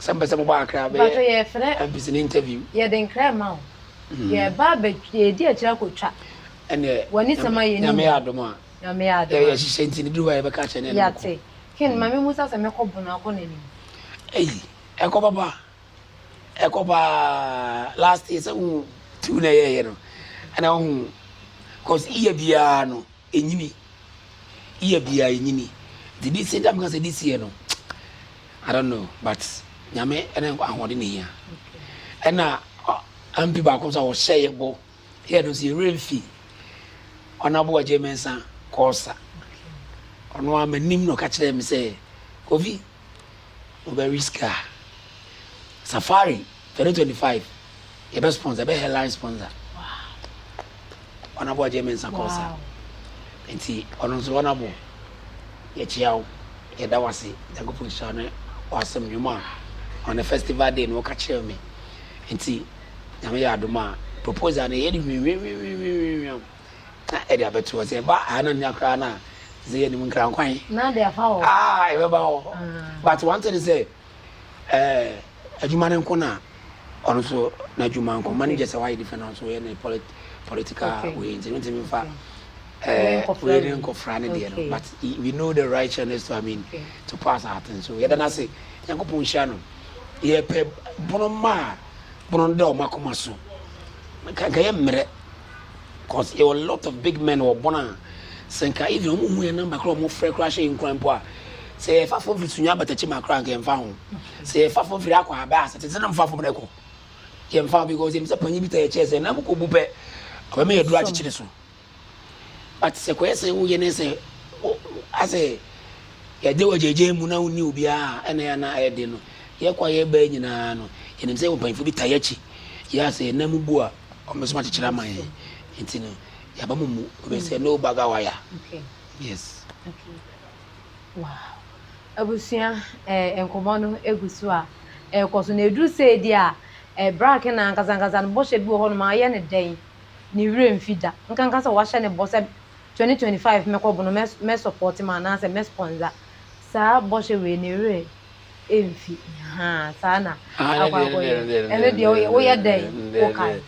Sɛ mpɛ sɛ mobɔ akra bɛyɛ Mpacho yɛfrɛ MPs no interview. yɛde nkra ɛma wo yɛba abɛ yɛdi akyire akotwa Ɛneɛ wanisɛm ayɛ ne Nyame yɛ adom a Nyame yɛ adom a yɛhyehyɛ nti no duru hɔ a yɛbɛka akyerɛ no ɛne no ko. Yate. Ken ma me musa sɛ mɛkɔ bono akɔ nanim. Ei ɛkɔ papa ɛkɔ paa last year sɛ wohu tour no a yɛyɛ no ɛna wohu cause year biara no. Enyini. Year biaa enyini. Nti this year nti a meka sɛ this year no I don't know but Nyame ne ahoɔden na ehia. Ɛna MP baako nso a ɔhyɛɛ yɛ bɔ yɛ no nso yɛ werɛ mfi Honourable Agyei Mensah Kɔɔsa. Ɔno ara m'anim na ɔka kyerɛɛ me sɛ Kofi Wobɛwe sika a. Safari 2025 yɛbɛ sponsor yɛbɛ headline sponsor. Honorable Agye Mensah Kɔsa. Nti ɔno nso honorable yɛkyia wo yɛda wase Nyankopɔn nhyira ne wasɛm nnwom a on the festival day no ɔka kyerɛ me. Nti nyame yɛ adom a proposal no yɛde nwianwianwianwianwianwiam. na ɛde abɛto hɔ. Sɛ ɛba anamia koraa no a, sɛ yɛnim nkrankwan a ɛbɛba hɔ. But one thing sɛ adwuma no nko na ɔno nso n'adwuma nko ma no gyɛ sɛ wayɛ different na nso yɛ ne political wei nti no ntumi fa wei ne nkɔfra no deɛ no but we know the righteousness to I mean to pass our things so yɛda no ase nyankopɔn hyia no yɛpɛ bono ma a bono no da ɔma koma so nka yɛ mmerɛ Cause yɛwɔ lot of big men wɔ bɔn a sɛ nka even ɔmo hu yɛn number koraa ɔmo frɛ koraa hyɛ yɛn nkuran mpo a sɛ yɛfa fam firi sunya bata kyima koraa nka yɛmfa ho sɛ yɛfa fam firi akɔ abɛ ase tete no mfa fam no ɛkɔ yɛmfa ho because yɛm sɛ panyin bi ta yɛ kyɛɛ sɛ na mokɔ bu pɛ ɔbɛma yɛduru akyekyere so but sɛ kɔyɛ sɛ woyɛ ne sɛ asɛ yɛde wɔ gyegye mu na wonni obiara ɛna yɛ na ɛyɛ den no yɛkɔ a yɛbɛɛ nyinaa no yɛnim sɛ yɛwɔ mpanyinfo bi ta yɛakyi yɛ asɛ yɛn nan mu bu a ɔmo nso akyekyere ama yɛn nti no yaba mo mu ɔbɛ sɛ no baga waya yes. Wow abusua ɛɛ eh, nkɔmɔ no egu so a ɛkɔ eh, so na eduru sɛ edi a ɛɛ eh, bra kena ankasa ankasa no bɔhyɛ bi wɔ hɔ nom ayɛ ne dɛn ne wura mfi da nkanka sɛ wahyɛ ne bɔ sɛ 2025 mɛkɔ bono mɛ mɛ support ma anaasɛ mɛ sponsor saa bɔhyɛ wei ne wura. mfi haa saa na akɔ akɔ yɛ ɛno deɛ woyɛ woyɛ dɛn wokae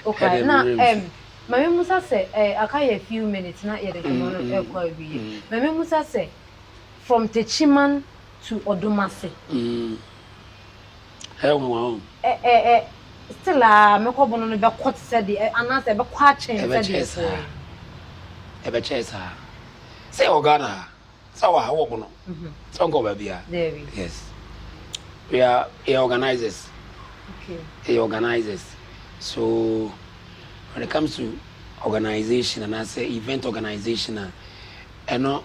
wokae na ɛm maame musa sɛ ɛɛ aka yɛ few minutes na yɛde nkɔmɔ no ɛkɔ awieɛ maame musa sɛ from techiman to ɔdomase ɛnwa o ɛ ɛ ɛ still a mekɔ bono no bɛkɔ te sɛ deɛ anaasɛ ɛbɛkɔ akyɛn sɛ deɛ ɛkɔɛ ɛbɛkyɛɛ saa sɛ ɔghana ha. Sɛ wɔ ha wɔ bono sɛ ɔnkɔ baabia yes we are yɛ organizers yɛ organizers so when it comes to organization and as a event organization a ɛno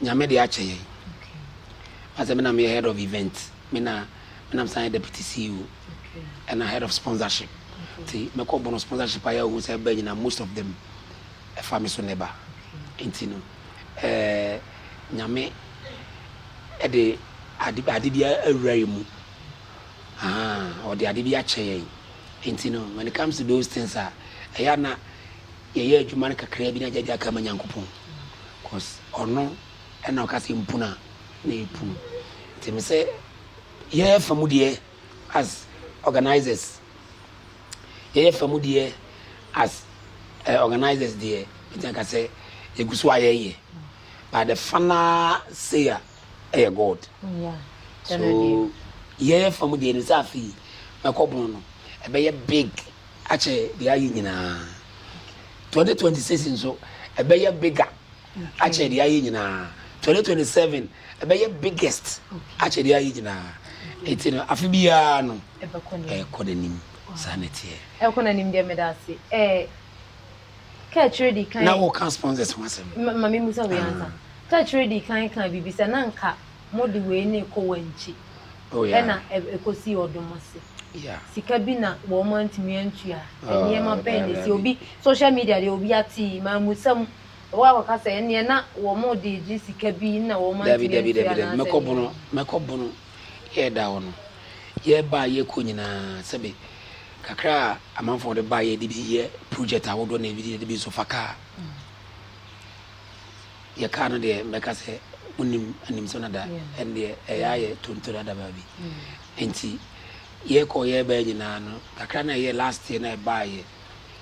nyame de akyɛ yɛn asɛ me na meyɛ head of event me na me nam san deputy CEO and a head of sponsorship ti mɛkɔ bono sponsorship ayɛ ohun sɛ ɛbɛ nyina most of them ɛfa me so neba nti no Nyame de ade bi awura yɛn mu. Ɔde ade bi akyɛ yɛn. Nti no, when it comes to those things a, ɛyɛ a na yɛyɛ adwuma no kakraa bi na agya de aka ma Nyankopɔn. Cos ɔno na ɔka sɛ mpunu a, na yɛpunu. Nti me sɛ yɛn fa mu deɛ as organisers, Yɛyɛ fa mu deɛ as eh, organisers deɛ mɛtumi aka sɛ yɛgu so a yɛyɛ but the final say a ɛyɛ God so yɛyɛ fa mu deɛ nim sɛ afei mɛkɔ bono no ɛbɛyɛ big akyɛ deɛ ayɛ nyinaa 2026 nso ɛbɛyɛ bigger akyɛn deɛ ayɛ nyinaa twenty twenty seven ɛbɛyɛ biggest akyɛn deɛ ayɛ nyinaa eti no afe biara no ɛkɔ n'anim saa na ɛteɛ. ɛkɔ n'anim deɛ meda ase ɛɛ kɛkyerɛ di kan. na wɔka sponsors ho asɛm. ma mi musa wei ansa ah. kɛkyerɛ di kan kan biribi sɛ na nka mo de wei na ɛkɔ wɔn akyi oh, ɛna ɛkɔsi ɔdom ase. sika bi na wɔn antumi antua nneɛma bɛn na esi obi social media deɛ obi ate maa musa mu. Wo a wɔka sɛ ɛnneɛ na wɔn de regye sika bi na wɔn antumi antua anaasɛ nneɛma. Dabi, dabi, dabi, dabi, mɛkɔ bono, mɛkɔ bono. Yɛreda hɔ no, yɛreba a yɛrekɔ nyinaa, sɛbe kakra a amanfoɔ de baeɛ de bi yɛ project ahodoɔ na ebi de bi nso fa kaa. Yɛ kaa no deɛ mɛka sɛ monim anim so no da, ɛno deɛ ɛyɛ a yɛ tonto dada baabi. Enti yɛkɔ yɛreba nyinaa no, kakra na ɛyɛ last year na ɛbaeɛ.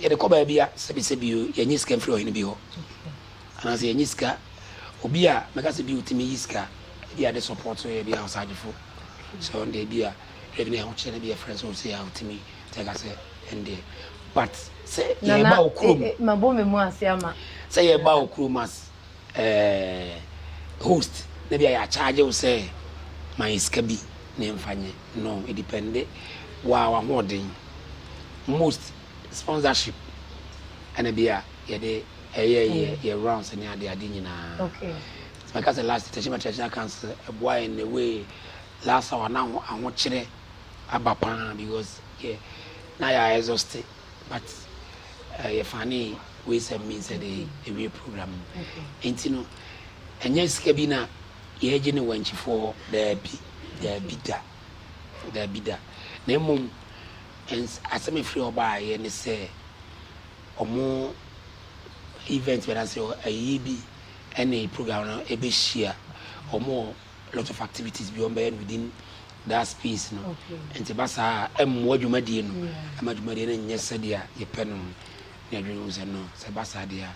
Yɛde kɔ baabi a, sɛbisɛbi o, yɛnyɛ sika mfiri ɔhene bi hɔ, anaasɛ yɛnyɛ sika, obi a mɛka sɛ bi otumi yi sika, ebi a de support yɛ bi a ɔsagyefo, sɛ ɔno deɛ bi a yɛde ne ahokyerɛ no bi yɛfrɛ no sɛ ɔsɛ a otumi te aka sɛ ɛndeɛ, but sɛ yɛba okurom, sɛ yɛba okurom as. Eeh host na bia yɛ acharge wo sɛ ma yɛ sika bi na yɛnfa nyɛ no edepende woa wahoɔden most sponsorship ɛna bia yɛde ɛyɛ yɛ yɛ rounds ne ade ade nyinaa nti mɛka sɛ last tɛhyɛ ma traditional council ɛboa yɛn in a way last hour na ahokyerɛ aba paa because yɛ na yɛ exhaust But eh, yɛfa ne wei sɛ mean sɛ de awie program no. Enti no, ɛnyɛ sika bi na yɛregye ne wankyifoɔ hɔ, daabi, daabi da, daabi da. Na mmom, ɛns- asɛm a ɛfiri hɔ baeɛ ne sɛ, ɔmo event bi anaasɛ ayie bi ɛne program no ɛbɛhyia. Ɔmo wɔ a lot of activities bi wɔn bɛyɛ no within that space no nti ba saa ɛmmoa dwumadie no ɛma dwumadie no nyɛ sɛdeɛ yɛpɛ no ne adwene ho sɛ no sɛ ba saa deɛ a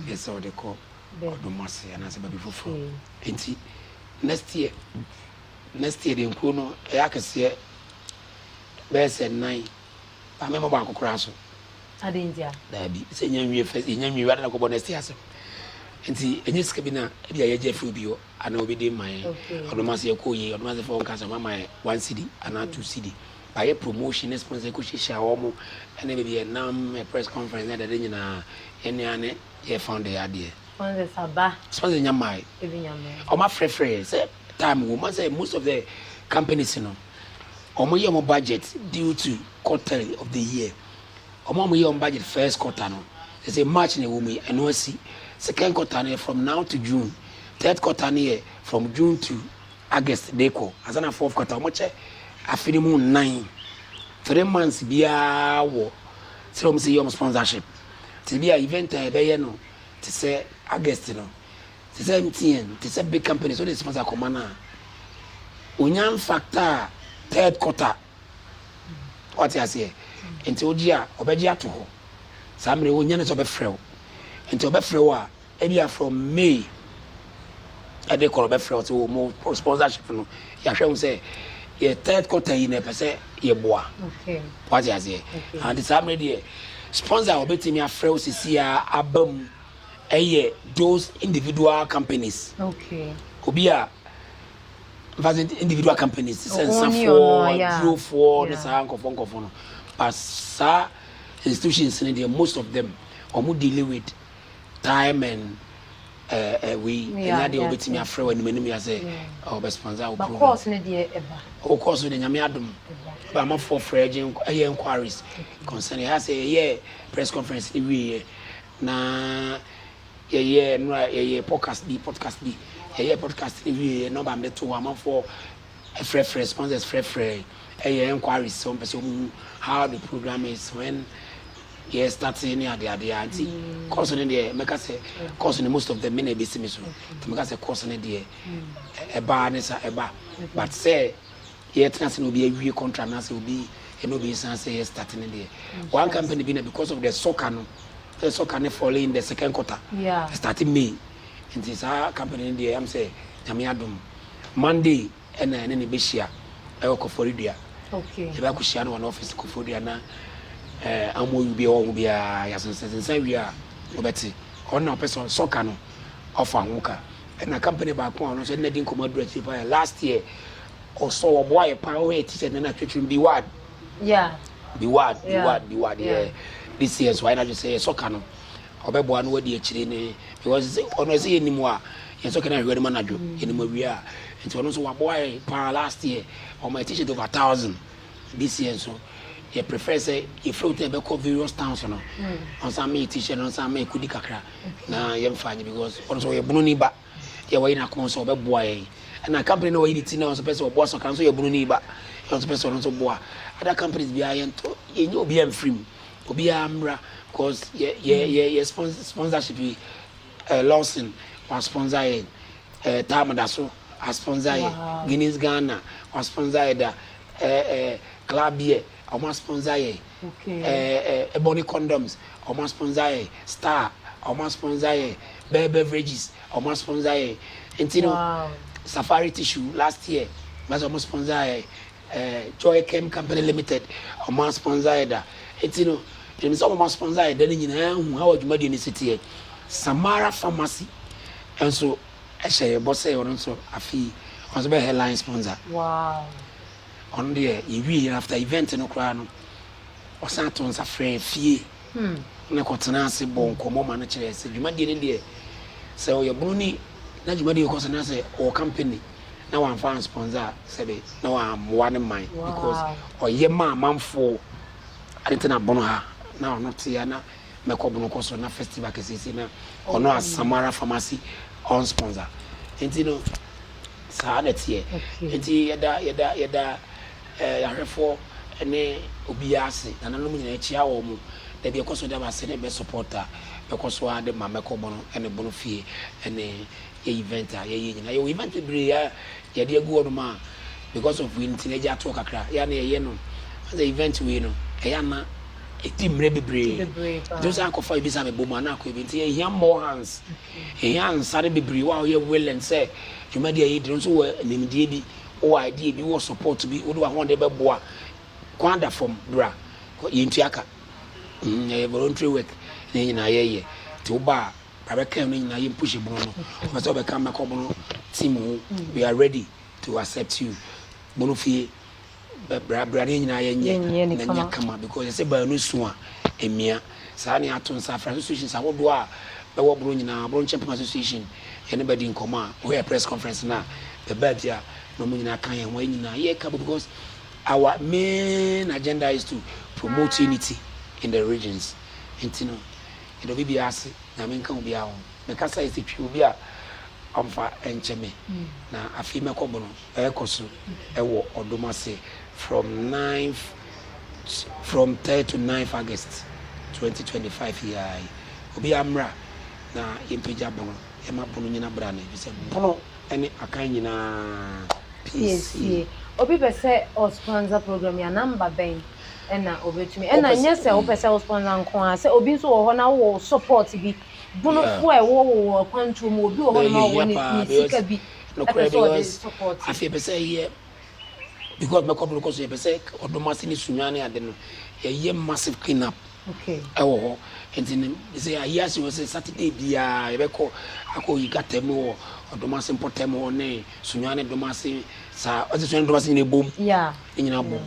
yɛ sɛ wɔde kɔ ɔdom ase anaasɛ baabi foforɔ nti next year next year deɛ nkuro no ɛyɛ akɛseɛ bɛyɛ sɛ nnan ba mɛmɔ baako koraa so daabi sɛ nya nwie fɛ nya nwie wia na kɔbɔ next year asɛm nti ɛnyɛ sika bi na ebi a yɛgye afiri obi hɔ anaa obi de ma yɛn ɔdɔ mu ase yɛ kɔ yie ɔdɔ mu ase fɔ nka sɛ ɔma ma yɛ one cedi anaa two cedi ba yɛ promotion ne sponsor ɛkɔ hyehyɛ wɔn mo ɛne baabi yɛ nam yɛ press conference ne ɛdɛde nyinaa yɛn nua ne yɛ founder yɛ adeɛ sponsors aba sponsors nya maa ebi nya maa wɔn afrɛfrɛ yɛ sɛ time wɔn ma sɛ most of the companies no wɔn yɛ wɔn budget due to quarterly of the year Wɔn a wɔyɛ wɔn budget first quarter no, ɛsɛ March na ɛwɔ mu yi, ɛno asi. Second quarter no yɛ from now to June. Third quarter no yɛ from June to August de kɔ. Ansa na fourth quarter, wɔkyɛ afe no mu nnan. Three months biara wɔ sɛ wɔn sɛ yɛ wɔn sponsorship. Te bi a event a yɛbɛyɛ no te sɛ August no, te sɛ MTN, te sɛ big companies, wode sponsor kɔma no a, wɔnya mfactor third quarter. Wate aseɛ? Nti wogye a, ɔbɛgye ato hɔ. Saa mmerɛ yi, ɔnnya ne sɛ ɔbɛfrɛ wo. Nti ɔbɛfrɛ wo a, ebia from May ɛde kɔ no, ɔbɛfrɛ wo sɛ o, mo sponsorship no, yɛahwɛ ho sɛ yɛ third quarter yi na ɛpɛ sɛ yɛboa. Wate aseɛ? Nti saa mmerɛ deɛ, sponsor a ɔbɛtumi afrɛ wo sisi a aba mu ɛyɛ those individual companies. Obi a mfa sɛ individual companies te sɛ nsafoɔ adurofoɔ ne saa nkɔfoɔ nkɔfoɔ no ba saa institutions no deɛ most of them wɔn deal with time and eh, eh, wei ɛnya deɛ wɔbɛtumi afrɛ wɔ anim anim yɛ sɛ wɔbɛsponsor wo program course no deɛ ɛba o course no deɛ nyame adom ba amafoɔ frɛ gye ɛyɛ inquiries concerning ɛyɛ sɛ ɛyɛ press conference no wieɛ na Yɛyɛɛ nnora yɛyɛɛ podcast bi podcast bi yɛyɛɛ podcast no wieeɛ na ɔba mede too hɔ amanfoɔ frɛfrɛ sponsors frɛfrɛ ɛyɛ enquiries sɛ wɔmpɛ sɛ wɔn hu how the program is when yɛ start ne ade ade a nti course no deɛ mɛka sɛ course no most of them me na ebesi me so nti mɛka sɛ course no deɛ ɛbaa ne sa ɛba but sɛ Yɛtena ase na obi awie contract na sɛ obi ɛna obi san sɛ yɛ start ne deɛ. One company bi na because of the soccer no sɛ soccer ne fall in the second quarter yeah. start May nti saa company ne deɛ yam sɛ nyame adom Monday ɛna ɛne ne bɛhyia ɛwɔ kɔfɔre dua okay. yɛbɛ akɔhyia no wɔn office kɔfɔre dua na eh, amoyu bi ɛwɔ ho biara yɛasensɛsensa wie a wɔbɛte ɔno na ɔpɛ sɛ soccer no ɔfa ho ka ɛna company baako a ɔno nso ɛna di nkɔmɔ aduru akyiri paa last year Ɔsɔ ɔboa yɛ paa ɔyɛ ti sɛ nana twetwem bi wad. Yeah. Bi wad bi wad bi wad yɛ this year so ayɛ n'adwene sɛ yɛsɔ ka no ɔbɛboa no wadi akyire ne because sɛ ɔno ɛsɛ yɛ nim a yɛsɔ ka no ahwɛ no ma n'adwo yɛnim awia a nti ɔno nso waboa yɛ paa last year ɔmo yɛ t-shirt over thousand this year nso yɛ prefer sɛ yɛfrɛ wo tɛ bɛkɔ various towns no ɔnsan meyɛ t-shirt no ɔnsan meyɛ kudi kakra na yɛmfa nye because ɔno nso ɔyɛ bunu ni ba. Deɛ wayi n'ako nso ɔbɛboa yɛn. Ɛna company na wayi ne ti na ɔnso pɛ sɛ ɔboa so ɔka nso yɛ bunu ne ba yɛ ɔnso pɛ sɛ ɔno nso boa. Other companies biara yɛn tɔ yɛn nyɛ obiara mfiri mu obiara mmra cause yɛ yɛ yɛ yɛ sponsor sponsorship yi eh, Lawson wa sponsor yɛn eh, Tam da so a sponsor yɛn wow. Guinness Ghana wa sponsor yɛ da eh, eh, Club Beer Ɔmo asponsor yɛn. Ɛɛ body condoms. Ɔmo asponsor yɛn. Star. Ɔmo asponsor yɛn. Bɛɛ beverages. Ɔmo asponsor yɛn. Nti no Safari tissue last year bɛsɛ ɔmo sponsor yɛn. Ɛɛ Joy Chem Company Limited. Ɔmo asponsor yɛn da. Nti no yɛnim sɛ ɔmo asponsor yɛn da no nyinaa hu how adwumadie no si teɛ. Samara Pharmacy nso hyɛ yɛn bɔ sɛ ɔno nso afei ɔno nso bɛyɛ headline sponsor. Wow. Ɔno deɛ yɛwieɛ after event no koraa no ɔsan too nsa frɛɛ fie ne kɔtenaa ase bɔɔ nkɔmmɔ ma no kyerɛɛ sɛ dwumadie no deɛ sɛ ɔyɛ bono ni na dwumadie rekɔ so na sɛ ɔwɔ company na wamfa ansponsor a sɛbe na wammoa no mman because ɔyɛ ma amanfoɔ ade te na bono ha na ɔno te ha na mɛ kɔ bono kɔ so na festival kɛsɛsɛ na ɔno asamara pharmacy on sponsor nti no saa na teɛ nti yɛda yɛda yɛda eh, yɛahwɛfoɔ ne obiara ase nananom nyinaa kyia wɔn mo na deɛ ɛkɔ so da ba sɛ ne bɛ supporta bɛkɔ so a de ma mɛkɔ bono ne bono fie ne yɛ event a yɛyɛ nyinaa yɛwɔ event bebree a yɛde agu hɔnom a because of wei nti na agya atoɔ kakra yɛ a na yɛyɛ no asɛ event wei no ɛyɛ ana ɛdi mmerɛ bebree nti sɛ akɔfa ebi sɛ abɛbɔ mu ana akɔ ebi nti ɛhia more hands ɛhia nsa no bebree wɔ a ɔyɛ willing sɛ dwumadi a yɛdi no nso wɔ nimdeɛ bi wɔ idea bi wɔ support bi wode wahoɔden bɛboa kwan da fam bra yɛntua ka ɛyɛ voluntary work ne nyinaa yɛyɛ nti woba a Abɛkɛn no nyinaa yɛ mpushi bono no ɔpɛ sɛ ɔbɛka mɛkɔ bono team ho we are ready to accept you bono fie brabra ne nyinaa yɛ nyɛ na nyɛ kama because ɛsɛ baanu so a emia saa ne ato nsa afra associations ahodoɔ a bɛwɔ bono nyinaa bono nkyɛn pɛm association yɛne bɛdi nkɔmɔ a wɔyɛ press conference na bɛba bi a na wɔn nyinaa ka yɛn ho yɛ nyinaa yɛ kabo because our main agenda is to promote unity in the regions nti no Yɛdɔ me biaa se Nyame nka obiaa ho Me kasa ese twi obi a ɔnfa nkyɛ me Na afei mɛkɔ bono ɛɛkɔ so ɛwɔ ɔdom ase From ninth From third to ninth August twenty twenty five yi ara yi Obiaa mmra na yɛmpagya bono Yɛma bono nyina bra no Efisɛ bono. ne akan nyinaa piesie. Obi pɛ sɛ ɔ sponsor program yi a number bɛn na obetumi ɛna nyɛ sɛ wopɛ sɛ wo sponsor nko ara sɛ obi nso wɔ hɔ na wowɔ wo support bi bono boa a ɛwɔ wo wɔ akwantuo mu obi wɔ hɔ nom a ɔwɔ ne sika bi ɛpɛ sɛ ɔde support. because mɛkɔ boro kɔ so yɛpɛ sɛ ɔdɔm ase ne sunya ne ade no yɛyɛ massive clean up ɛwɔ hɔ nti no sɛ ayi ase wɔ sɛ saturday biara yɛbɛkɔ akɔ yi gata mu wɔ ɔdɔm ase mpɔtam hɔ ne sunya ne dɔm ase saa ɔsɛ sunya ne dɔm ase nyina bom ne nyina bom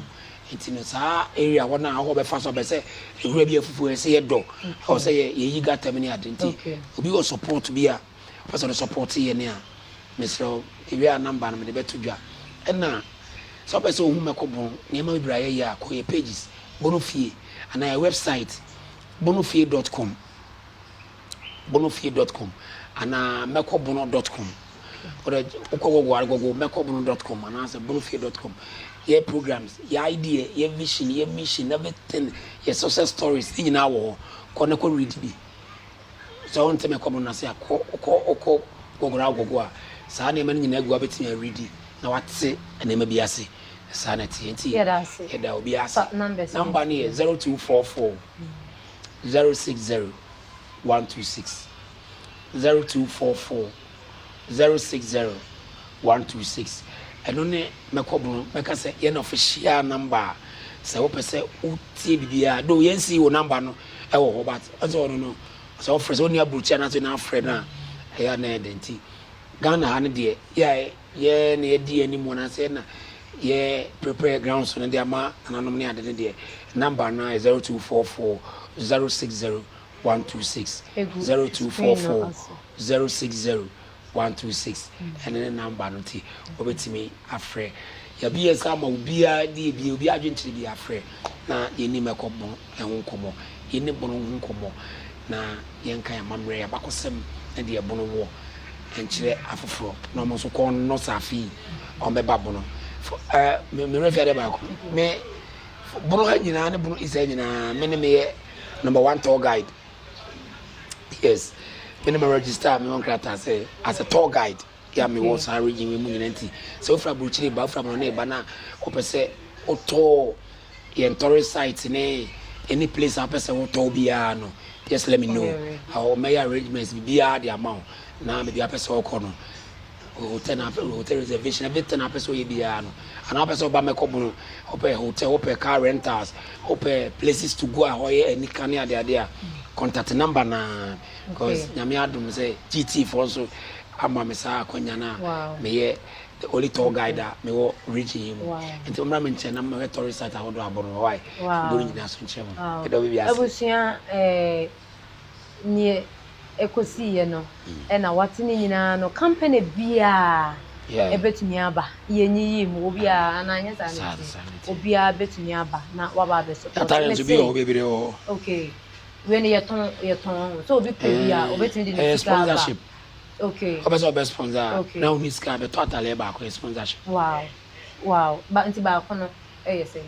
nti no saa area hɔ no a hɔ bɛfa so abɛ sɛ nwura bi afufuo ɛsɛ yɛ dɔ ɛwɔ sɛ yɛyi gata mu ne ade nti obi wɔ support bi a Wopɛ sɛ wode sɔpɔɔte yɛ ne a, mesrɛ wo, yɛwie a namba no mede bɛto dwa. Ɛna sɛ wopɛ sɛ wohu mɛko bon nneɛma bebree a yɛyɛ a, kɔ yɛ pages, Bono Fie, anaa yɛ wɛbsaete, bonofie dɔt kɔm, bonofie dɔt kɔm, anaa mɛkɔbono dɔt kɔm. Wode wokɔ Google a, Google mɛkɔbono dɔt kɔm anaasɛ bonofie dɔt kɔm. Yɛ programs, yɛ idea, yɛ vision, yɛ mission, everything, yɛ success stories, ne nyinaa wɔ hɔ. Kɔ na kɔ read bi. sɛ wonte me nkɔmmɔ no ase a, kɔ, wokɔ, wokɔ Google na wokɔgo a, saa nneɛma no nyinaa gu hɔ a wobɛtumi aredi na woate nneɛma bi ase. Saa na ɛteɛ. Nti yɛda obiara ase. Namba no yɛ zero two four four zero six zero one two six, zero two four four 060126 ɛno ne mɛkɔbono mɛka sɛ yɛn official number a sɛ wopɛ sɛ wotie biribiara do yɛn si wo number no ɛwɔ hɔ but ɔsɛ ɔno no sɛ ɔfrɛ sɛ ɔni aburokyi anaasɛ ɔni afrɛ no a ɛyɛ a na ɛyɛ dɛ nti Ghana ha no deɛ yɛ a yɛ na yɛdi yɛn anim anaasɛ yɛ na yɛ prepare ground so no de ama nananom ne ade no deɛ number no a 0244 060 one two six zero two four four zero six zero one two six ɛne ne namba no te wɔbɛtumi afrɛ yɛbi yɛ sɛ ama obiara ne ebi obi adwenkyerɛ bi afrɛ na yɛni mɛkɔ bono ɛho nkɔmmɔ yɛni bono ho nkɔmmɔ na yɛnka yɛn amammerɛ yɛn abakɔsɛm ne deɛ bono wɔ nkyerɛ afoforɔ na wɔn nso kɔn no saafi wɔn bɛba bono ɛɛ mmerɛ fi adeɛ baako mɛ. bono ha nyinaa ne bono isa nyinaa me ne meyɛ number one tour guide yes me ne me register me wɔn krataa sɛ as a tour guide yɛ a me wɔ saa region wei mu nyinaa nti sɛ wofura aburukyire ba wofura mono ne ba na wɔpɛ sɛ wotɔ yɛn tɔre site ne any place a wopɛ sɛ wotɔ biara no just let me know awɔ mɛyɛ arrangements biara de ama wo na baabi a wopɛ sɛ wɔkɔ no Hotel na afei hotel reservation everything a wopɛ sɛ ɔyɛ biara no anaa wopɛ sɛ ɔba mmɛkɔ bono wopɛ hotel wopɛ car rentals wopɛ places to go a hɔ yɛ anika ne adeade a contact number na because nyame adom sɛ GT foɔ nso ama me saa akwanya no a meyɛ the only tour guide a mewɔ region yi mu nti ɔmmra me nkyɛn na mmɛhwɛ tourist site ahodoɔ abono hɔ wae bono nyinaa so nkyerɛ mu ɛdɔ bi bi ase abusua eh, neɛ ɛkɔsiiɛ no na wate ne nyinaa no company biaa ɛbɛtumi aba yɛnyiyii mu obiaa anaa ɛnyɛ saa na ɛteɛ obiaa bɛtumi aba na waba abɛ support me se ok wei no yɛtɔn yɛtɔn ho sɛ obi pɛ bi a obɛtumi de ne sika aba ok ɔpɛ sɛ ɔbɛ sponsor a na ɔni sika bɛtɔ ataleɛ baako yɛ sponsorship wow wow nti baako no ɛyɛ sɛn.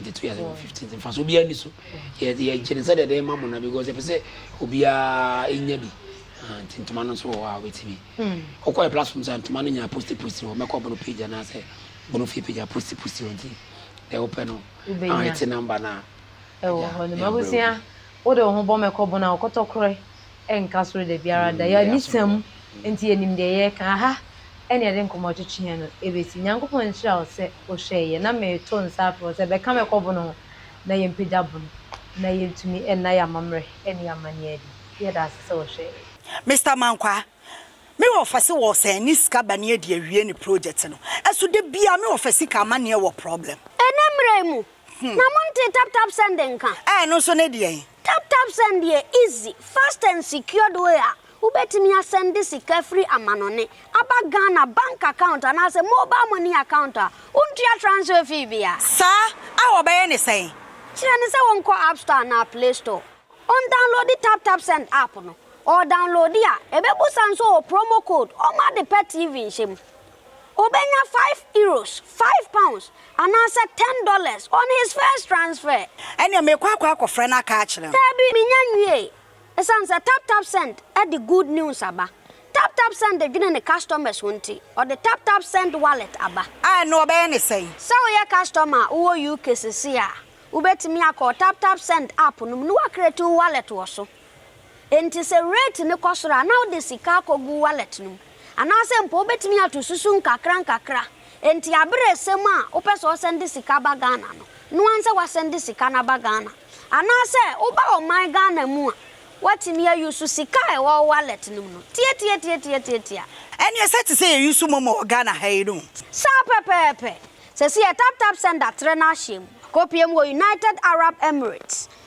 Nti to yɛsɛ wɔ fifteen ti nfaso obiara ni so yɛ yɛ gye ne sɛ deɛ ɛdɛn ma mo na because yɛpɛ sɛ obiara enya bi ah, nti ntoma no nso wɔ hɔ a obetumi ɔkɔ yɛ platform sɛ ntoma no nya posti posti wɔ mɛkɔ bono page anaasɛ bono fie page a posti posti wɔ nti deɛ wopɛ no ah ɛte number no a ɛwɔ hɔ no mabusua wode wo ho bɔ mɛkɔ bono a ɔkɔtɔ korɛ ɛnka soro da biara da. Yɛn ani sã mu, enti yɛnim deɛ yɛreka. Aha ne yɛde nkɔmmɔ twetwe yɛn no bɛsi. Nyankopɔn nhyira wo sɛ wohwɛɛ yɛn. Na mereto nsa afrɛ wo sɛ bɛka me kɔ bono ho na yɛmpagya bono na yɛntumi nna yɛn amammerɛ ne yɛn amanneɛ adi. Yɛda ase sɛ wohwɛɛ yɛn. Mister Mankwah, me wɔfa se wɔ sɛn ne sika ba ne adi awie ne project no so da biara me wɔfa sika amaneɛ wɔ problem. Ɛnɛ mmerɛ yi mu na mo ntee tap tap send nka. Ɛɛ ɛno nso ne deɛn. Tap Tap Send yɛ easy, fast and secured way a wobɛtumi asɛnde sika firi amanɔne aba Ghana bank account anaasɛ mobile money account a wontua transfer fee bia. Saa a wɔbɛyɛ ne sɛn? Kyerɛ no sɛ wɔnkɔ App Store anaa Play Store, ɔndownloadi Tap Tap Send app no, ɔredownloadi a, ɛbɛbusa nso wɔ promo code, ɔmma ade pa TV nhyɛ mu, Obenya five euros, five pounds, anaasɛ ten dollars on his first transfer. Ɛnneɛ merekɔ akɔ akɔfrɛ no aka akyerɛ no. Daabi, mennya nwiee. Esiane sɛ TapTapSend de good news aba, TapTapSend dwene ne customers ho nti, ɔde TapTapSend Wallet aba. A, ɛnneɛ wɔbɛyɛ no sɛn? Sɛ woyɛ customer a wowɔ UK seesei a, wobɛtumi akɔ TapTapSend app no mu na woacreate wo wallet wɔ so. Enti sɛ rate no kɔ soro a, na wode sika akɔgu wallet no mu. Anaasɛ mpo wobɛtumi ato susu nkakrankakra. Enti aberɛ ɛsɛ mu a wopɛ sɛ wosɛnde sika ba Ghana no, noa nsɛ woasɛnde sika no aba Ghana. Anaasɛ woba ɔman Ghana mu a, woatumi a use sika a ɛwɔ wo wallet no mu no. Tiatiatiatiatiatia. Ɛneɛ sɛ te sɛ yɛ use momo wɔ Ghana ha yi no. Saa pɛpɛɛpɛ. Sɛsi yɛ taptapsend atrɛ no ahyɛ mu. Akɔpie mu wɔ United Arab Emirates.